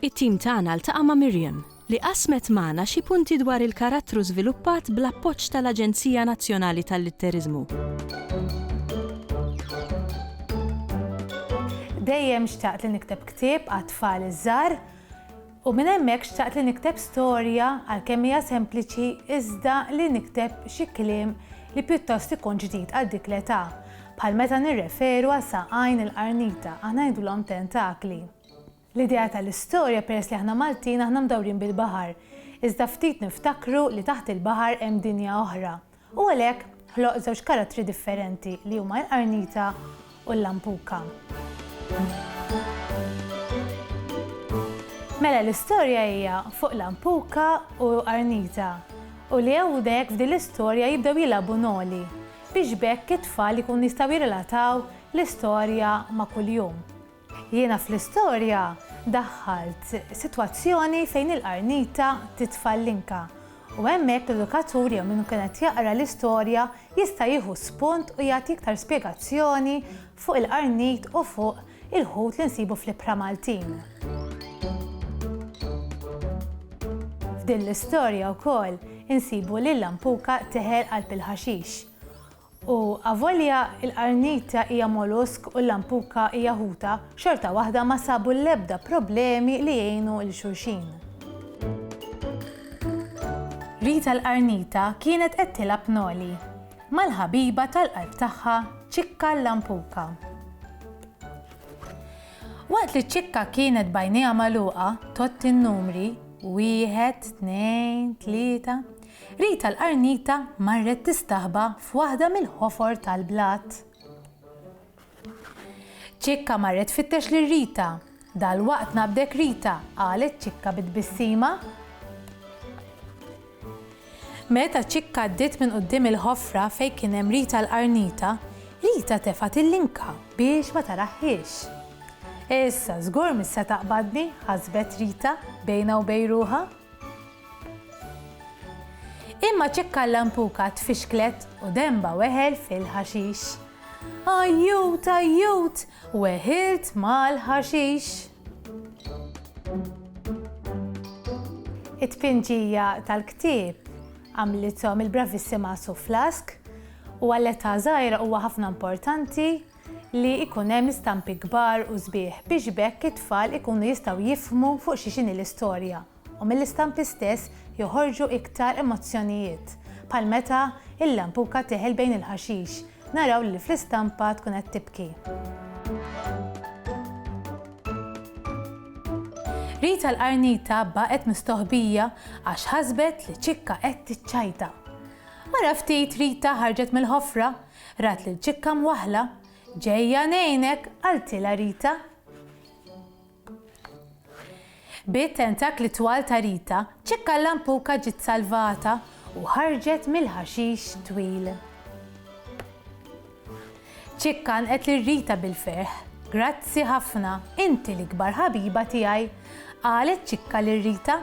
It-tim tagħna ltaqa' ma' Miriam, li qasmet magħna xi punti dwar il-karattru żviluppat bl-appoġġ tal-Aġenzija Nazzjonali tal-Litteriżmu. Dejjem xtaqt li nikteb ktieb għat-tfal iż-żgħar u minn hemmhekk xtaqt li nikteb storja għalkemm hija sempliċi iżda li nikteb xi kliem li pjuttost ikun ġdid għal dik l-età, bħal meta nirreferu għal saqajn il-qarnita, aħna ngħidulhom tentakli. L-idea tal-istorja peress li aħna Maltin aħna mdawrin bil-baħar, iżda ftit niftakru li taħt il-baħar hemm dinja oħra. U għalhekk ħloq żewġ karattri differenti li huma l-qarnita u l-lampuka. Mela l-istorja hija fuq lampuka u qarnita u li hawnhekk f'din l-istorja jibdew jilagħbu noli biex b'hekk it-tfal ikunu jistgħu jirrelataw l-istorja ma' kuljum. Jiena fl-istorja daħħalt sitwazzjoni fejn il-qarnita titfa' l-linka u hemmhekk l-edukatur jew min ikun qed jaqra l-istorja jista' jieħu spunt u jagħti iktar spjegazzjoni fuq il-qarnit u fuq il-ħut li nsibu fl-ibħra Maltin. F'din l-istorja wkoll insibu lil Lampuka teħel qalb il-ħaxix. U avolja l-qarnita hija molusk u l-lampuka hija ħuta, xorta waħda ma sabu l-ebda problemi li jgħinu lil xulxin. Rita l-qarnita kienet qed tilgħab noli mal-ħabiba tal-qalb tagħha Ċikka l-lampuka. Waqt li Ċikka kienet b'għajnejha magħluqa tgħodd in-numri, wieħed, tnejn, tlieta, Rita l-qarnita marret tistaħba f'waħda mill-ħofor tal-blat. Ċikka marret tfittex lil Rita. Dalwaqt nabdek Rita, qalet Ċikka bi tbissima. Meta Ċikka għaddiet minn quddiem il-ħofra fejn kien hemm Rita l-qarnita, Rita tefgħet il-linka biex ma tarahhiex. Issa żgur mis se taqbadni, ħasbet Rita bejnha u bejn ruħha. Imma ċekka l-lampuka tfixklet u denba weħel fil-ħaxix. Ajjut, ajjut, weħilt mal-ħaxix! It-tpinġija tal-ktieb għamlithom il-bravissima Sue Flask u għal età żgħira huwa ħafna importanti li jkun hemm istampi kbar u sbieħ biex b'hekk it-tfal ikunu jistgħu jifhmu fuq xiex inhi l-istorja u mill-istampi stess joħorġu iktar emozzjonijiet bħal meta l-lampuka teħel bejn il-ħaxix naraw lil fl-istampa tkun qed tibki. Rita l-qarnita baqgħet mistoħbija għax ħasbet li ċikka qed tiċċajta. Wara ftit Rita ħarġet mill-ħofra Rat lil ċikka mwaħħla. Ġejja ngħinek, qaltilha Rita. Bit-tentakli twal ta' Rita, ċikka l-lampuka ġiet salvata u ħarġet mill-ħaxix twil. Ċikka għanqet lil Rita bil-ferħ. Grazzi ħafna, inti l-ikbar ħabiba tiegħi, qalet ċikka lil Rita.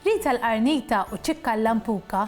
Rita l-qarnita u ċikka l-lampuka